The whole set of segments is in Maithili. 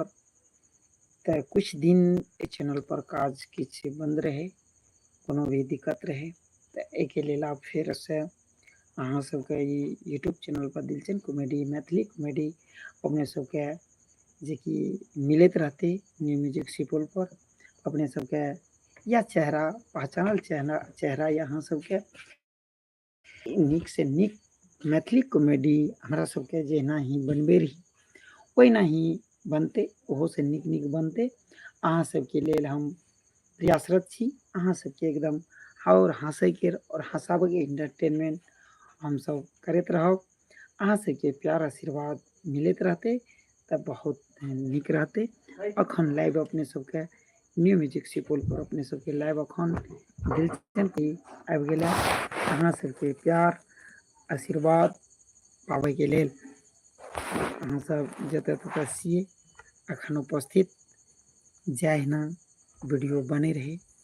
पर तऽ किछु दिन एहि चैनलपर काज किछु बन्द रहै कोनो भी दिक्कत रहै तऽ एहिके लेल आब फेरसँ अहाँ सबके ई यूट्यूब चैनलपर दिल छै कॉमेडी मैथिली कॉमेडी अपने सबके जेकि मिलैत रहतै न्यू म्यूजिक सुपौलपर अपने सबके या चेहरा पहचानल चेहरा चेहरा या अहाँ सबके नीक से नीक मैथिली कॉमेडी हमरा सबके जहिना ही बनबे रही ओहिना ही बनते ओहो से नीक नीक बनते अहाँ सबके लेल हम प्रयासरत छी अहाँ सबके एकदम और हंसे के और हंसाबे के एंटरटेनमेंट हम सब करत रहब अहाँ सबके प्यार आशीर्वाद मिलैत रहतै तऽ बहुत नीक रहतै अखन लाइव अपने सबके न्यू म्यूजिक सुपौल पर अपने सबके लाइव अखन दिलचस्पी आबि गेल अहाँ सबके प्यार आशीर्वाद पाबैके लेल अहाँसभ जतऽ ततऽ छियै अखन उपस्थित जय हिना वीडियो बने रहे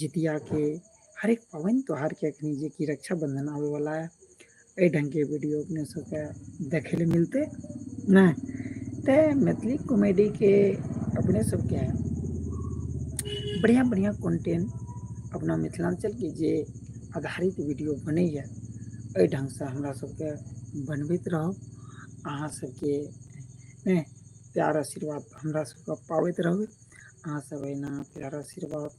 जितिया के हर एक पाबनि त्यौहार के अखनी जे कि रक्षाबंधन आबे वाला है एहि ढंग के वीडियो अपने सबके देखे ले मिलते ने ते मैथिली कॉमेडी के अपने सबके बढ़िया बढ़िया कंटेंट अपना मिथिलांचल के जे आधारित वीडियो बने है एहि ढंग से हमरा सबके बनबैत रहब अहाँ सबके ने प्यार आशीर्वाद हमरा सबके पाबैत रहबै अहाँ सब एना प्यार आशीर्वाद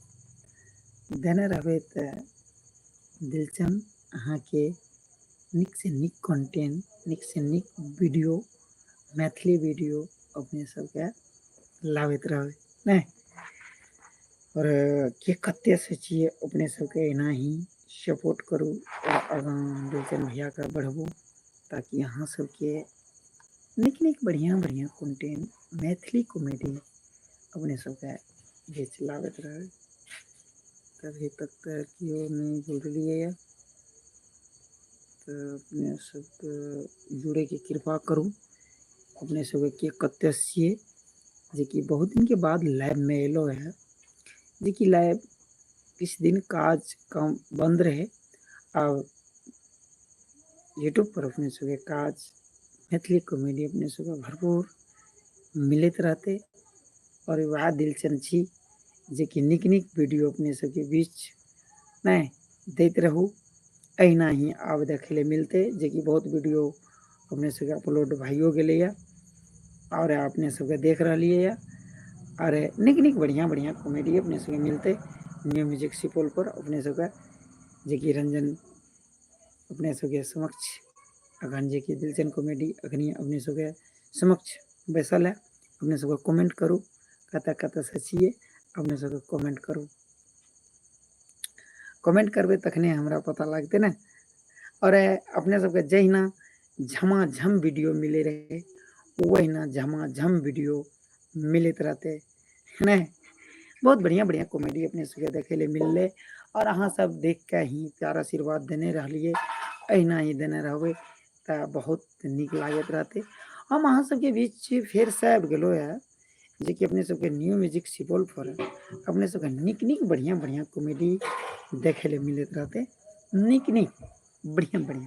देने रहबै तऽ दिलचन अहाँके नीकसँ नीक कन्टेन्ट नीकसँ नीक वीडियो मैथिली वीडियो अपने सबके लाबैत रहबै नहि आओर के कतेसँ छियै अपने सबके एनाही सपोर्ट करू आओर आगाँ दिलचन भैयाके बढ़बू ताकि अहाँ सबके नीक नीक बढ़िआँ बढ़िआँ कन्टेन्ट मैथिली कॉमेडी अपने सबके बेच लाबैत रहै तभी तक तऽ केओ नहि जुड़लियैए तऽ अपने सबके जुड़ैके कृपा करू अपने सबके के कतय छियै जेकि बहुत दिनके बाद लाइवमे एलहुँ हँ जेकि लाइव किछु दिन काज काम बन्द रहै आब यूट्यूब पर अपने सबके काज मैथिली कॉमेडी अपने सबके भरपूर मिलैत रहतै आओर वएह दिलचन छी जेकि नीक नीक वीडियो अपने सबके बीच नहि दैत रहू अहिना ही आब देखै लए मिलतै जेकि बहुत वीडियो अपने सबके अपलोड भइयो गेलैए आओर अपने सबके देख रहलिए यऽ आओर नीक नीक बढ़िआँ बढ़िआँ कॉमेडी अपने सबके मिलतै न्यू म्यूजिक सुपौलपर अपने सबके जेकि रंजन अपने सबके समक्ष अखन जे कि दिलचन कॉमेडी अखनी अपने सबके समक्ष बैसल है अपने सबके कमेंट करू कतऽ कतऽ से छिए अपने सबके कमेंट करू कमेंट करबै तखने हमरा पता लगते ने और अपने सबके जहिना झमाझम वीडियो मिले रहे वहिना झमाझम वीडियो मिलत रहते नहि बहुत बढ़िया बढ़िया कॉमेडी अपने सबके देखे ले मिलले और अहाँ सब देख के ही प्यार आशीर्वाद देने रहलियै अहिना ही देने रहबै तऽ बहुत नीक लागैत रहतै हम अहाँ सबके बीच छी फेर से आबि गेलहुँ यऽ जेकि अपने सबके न्यू म्यूजिक सुपौल पर अपने सबके नीक नीक बढ़िया बढ़िया कॉमेडी देखे ले मिलैत रहतै नीक नीक बढ़िया बढ़िया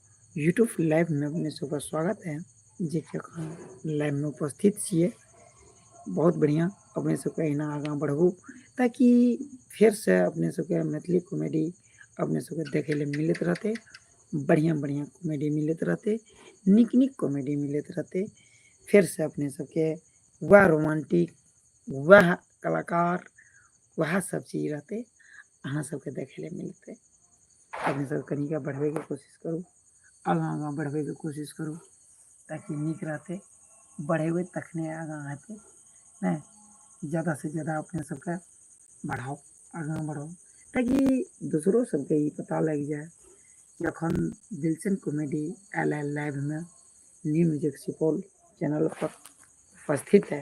यूट्यूब लाइवमे अपने सबके स्वागत है जेकि अखन लाइवमे उपस्थित छियै बहुत बढ़िआँ अपने सबके अहिना आगाँ बढ़ू ताकि फेरसँ अपने सबके मैथिली कॉमेडी अपने सबके देखै लए मिलैत रहतै बढ़िआँ बढ़िआँ कॉमेडी मिलैत रहतै नीक नीक कॉमेडी मिलैत रहतै फेरसँ अपने सबके वएह रोमांटिक वएह कलाकार वएह सब चीज रहतै अहाँ सबके देखै लए मिलतै अपने सब कनिका बढ़बैके कोशिश करू आगाँ आगाँ बढ़बैके कोशिश करू ताकि नीक रहतै बढ़ेबै तखने आगाँ हेतै नहि जादासँ जादा अपने सबके बढ़ाउ आगाँ बढ़ाउ ताकि दोसरो सबके ई पता लागि जाय जखन दिलचन कॉमेडी एल एल लाइवमे न्यू म्यूजिक सुपौल चैनल पर उपस्थित है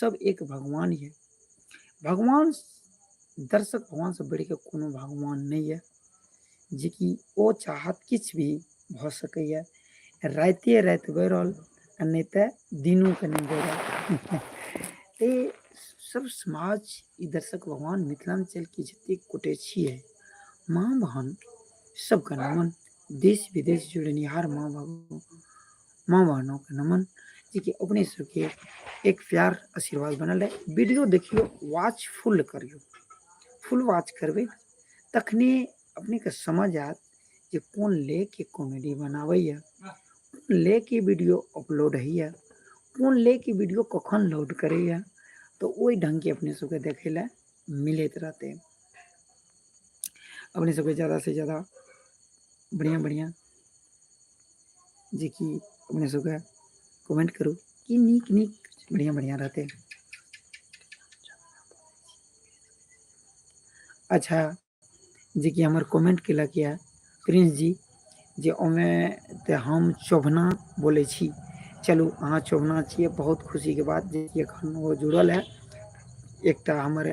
सब एक भगवान ये भगवान दर्शक भगवान से बढ़ के कोनो भगवान नहीं है जे कि ओ चाहत किछ भी भ सकैए राइते राति बहि रहल आ नहि तऽ दिनोके नहि बहि रहल ते सब समाज ई दर्शक भगवान मिथिलाञ्चलके जतेक गोटे छियै माँ बहन सबके नमन देश विदेश जुड़निहार माँ बाबू माँ बहनों के नमन जी के अपने सबके एक प्यार आशीर्वाद बनल है वीडियो देखियो वॉच फुल करियो फुल वॉच करबे तखने अपने के समझ आत जे कौन ले के कॉमेडी बनाबैए कौन ले के वीडियो अपलोड होइए कौन ले के वीडियो कखन लोड करैए तो वही ढंग के अपने सबके देखे ला मिलत रहते अपने सबके ज़्यादा से ज़्यादा बढ़िया बढ़िया जेकि अपने सबके कमेंट करू कि नीक नीक बढ़िआँ बढ़िआँ रहतै अच्छा जेकि हमर कमेंट केलक यऽ प्रिंस जी जे ओहिमे तऽ हम चौभना बोलै छी चलू अहाँ चौभना छियै बहुत खुशीके बात जेकि एखन ओ जुड़ल है एक तऽ हमर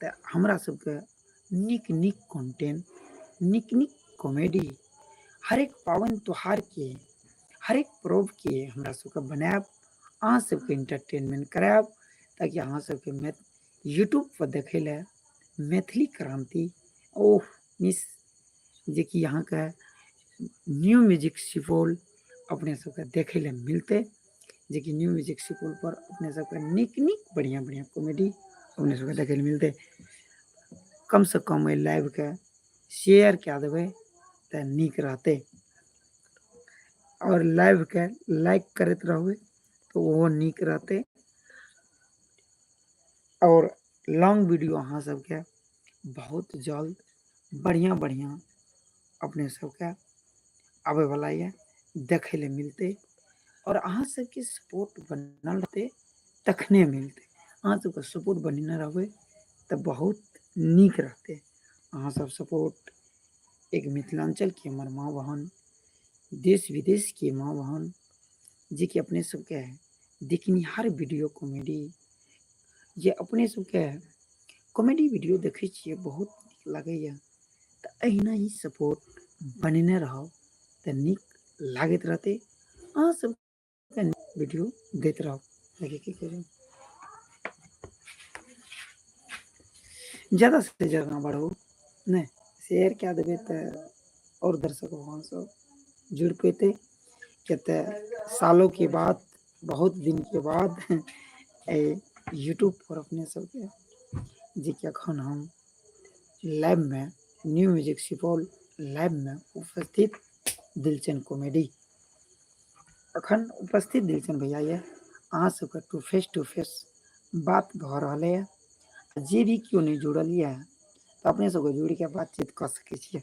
तऽ हमरा सबके नीक नीक कन्टेंट नीक नीक कॉमेडी हरेक पाबनि त्योहारके हरेक परबके हमरा सबके बनायब अहाँ सबके इंटरटेनमेंट करायब ताकि अहाँ सबके मै यूट्यूब पर देखै लए मैथिली क्रान्ति ओह मिस जेकि अहाँके न्यू म्यूजिक सुपौल अपने सबके देखै लए मिलतै जे कि न्यू म्यूजिक सुपौल पर अपने सबके नीक नीक बढ़िया बढ़िया कॉमेडी अपने सबके देखे ले मिलते कम से कम एहि लाइव के शेयर कए देबै तऽ नीक रहतै और लाइव के लाइक करैत रहबै तऽ ओहो नीक रहतै और लॉन्ग वीडियो अहाँ सबके बहुत जल्द बढ़िआँ बढ़िआँ अपने सबके आबैवला यऽ देखै लए मिलतै आओर अहाँ सबके सपोर्ट बनल रहतै तखने मिलतै अहाँ सबके सपोर्ट बनेने रहबै तऽ बहुत नीक रहतै अहाँ सब सपोर्ट एक मिथिलाञ्चलके हमर माँ बहन देश विदेशके माँ बहन जेकि अपने सबके देखनिहार वीडियो कॉमेडी जे अपने सबके कॉमेडी वीडियो देखै छियै बहुत नीक लागैए तऽ अहिना ही सपोर्ट बनेने रहब तऽ नीक लागैत रहतै अहाँ सब वीडियो दैत रहब देखिए की करी ज़्यादा से ज़्यादा बढ़ो नहीं शेयर क्या देवे तो और दर्शक भगवान सब जुड़ पेते कहते सालों के बाद बहुत दिन के बाद एहि यूट्यूब पर अपने सबके जे कि एखन हम लाइव मे न्यू म्यूजिक सुपौल लाइव मे उपस्थित दिलचन कॉमेडी अखन उपस्थित दिलचन भैया ये अहाँ सबके टू फेस टू फेस बात भऽ रहल है जे भी केओ नहि जुड़ल यऽ तऽ अपने सबके जुड़ि कऽ बातचीत कऽ सकै छियै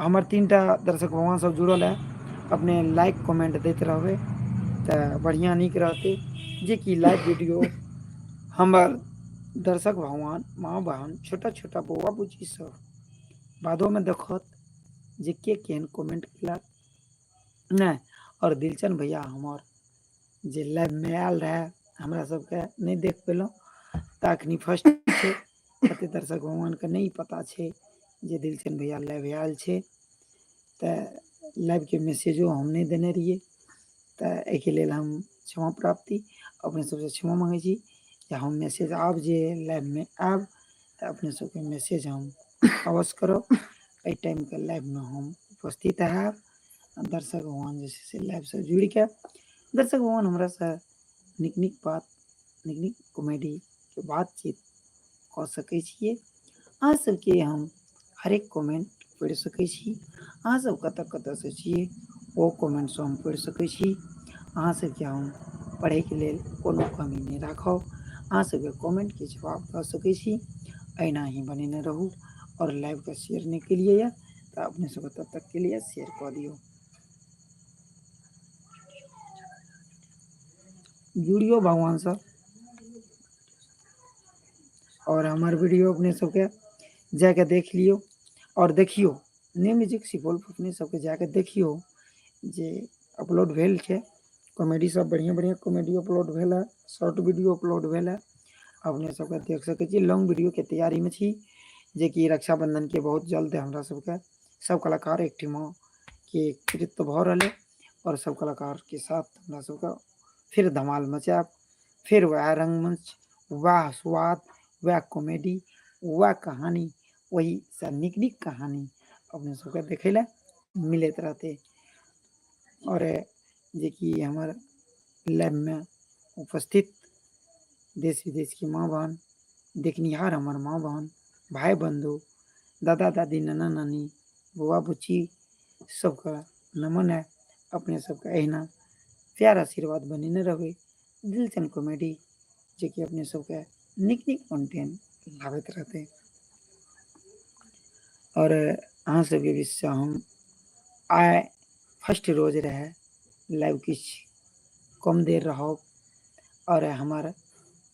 हमर तीन टा दर्शक भगवान सब जुड़ल है अपने लाइक कमेन्ट दैत रहबै तऽ बढ़िआँ नीक रहतै जेकि लाइव वीडियो हमर दर्शक भगवान माँ बहन छोटा छोटा बौआ बुची सब बादोमे देखत जे के केहन कमेन्ट केलक नहि आओर दिलचन भैया हमर जे लाइव मे आयल रहै हमरा सबके नहि देख पेलहुँ तऽ एखनी फर्स्ट कते दर्शक भगवान के नहि पता छै जे दिलचन्द भैया लाइब आयल छै तऽ लाइब के मैसेजो हम नहि देने रहियै तऽ एहिके लेल हम क्षमा प्राप्ति अपने सबसे क्षमा माँगै छी जे हम मैसेज आब जे लाइब मे आयब तऽ अपने सबके मैसेज हम अवश्य करब एहि टाइम के लाइब मे हम उपस्थित हयब आ दर्शक भगवान जे छै से लाइब सँ जुड़ि कऽ दर्शक भगवान हमरा सँ नीक नीक बात नीक नीक कॉमेडी से बातचीत कऽ सकै छियै अहाँ सबके हम हरेक कमेन्ट पढ़ि सकै छी अहाँ सब कतऽ कतऽ से छियै ओ कमेन्ट सब हम पढ़ि सकै छी अहाँ सबके हम पढ़ैके लेल कोनो कमी नहि राखब अहाँ सबके कमेन्ट के जवाब दऽ सकै छी अहिना ही बनेने रहू आओर लाइव के शेयर नहि केलियै यऽ तऽ अपने सब तब तक के लिए शेयर कऽ दियौ जुड़ियौ भगवानसँ आओर हमर वीडियो अपने सबके जा कऽ देख लियौ आओर देखियौ नहि म्यूजिक सिपौल फुकने सबके जा कऽ देखियौ जे अपलोड भेल छै कॉमेडी सब बढ़िआँ बढ़िआँ कॉमेडी अपलोड भेल हँ शॉर्ट वीडियो अपलोड भेल हँ अपने सबके देख सकै छी लौंग वीडियो के तैयारी मे छी जेकि रक्षाबंधन के बहुत जल्द हमरा सबके सब कलाकार एक टीम के कृत्य भऽ रहलै आओर सब कलाकार के साथ हमरा सबके फेर धमाल मचायब फेर वएह रंगमंच वएह स्वाद वएह कॉमेडी वएह कहानी वही से नीक नीक कहानी अपने सबके देखै लए मिलैत रहतै आओर जेकि हमर लैबमे उपस्थित देश विदेशके माँ बहन देखनिहार हमर माँ बहन भाय बन्धु दादा दादी नाना नानी बौआ बुच्ची सबके नमन है अपने सबके अहिना प्यार आशीर्वाद बनेने रहबै दिलचन कॉमेडी जेकि अपने सबके नीक नीक कन्टेंट लाबैत रहतै आओर अहाँ सबके विषय हम आइ फर्स्ट रोज रहै लाइव किछु कम देर रहब आओर हमर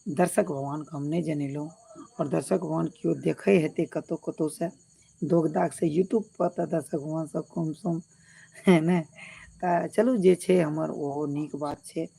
दर्शक भगवानके हम नहि जनेलहुँ आओर दर्शक भगवान केओ देखै हेतै कतहु कतहुसँ दोग दागसँ यूट्यूबपर तऽ दर्शक भगवानसभ कम सम है ने तऽ चलू जे छै हमर ओहो नीक बात छै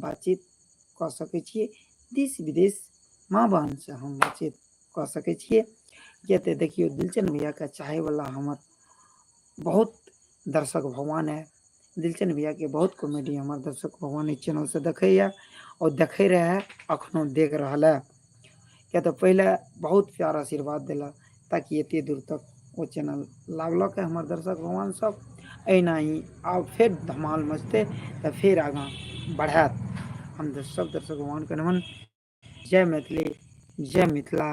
बातचीत कऽ सकै छियै देश विदेश माँ बहनसँ हम बातचीत कऽ सकै छियै किए तऽ देखियौ दिलचन भैयाके चाहयवला हमर बहुत दर्शक भगवान है दिलचन भैयाके बहुत कॉमेडी हमर दर्शक भगवान एहि चैनलसँ देखैए आओर देखै रहए एखनहु देख रहल हए किया तऽ पहिले बहुत प्यार आशीर्वाद देलक ताकि एते दूर तक ओ चैनल लाबलक ह हमर दर्शक भगवान सब अहिना ही आउ फेर धमाल मचतै तऽ फेर आगाँ बढ़ायत हम त सब दर्शक भगवान के नमन जय मैथिली जय मिथिला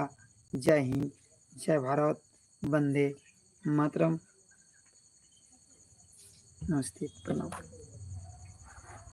जय हिन्द जय भारत बन्दे मातरम नमस्ते प्रणाम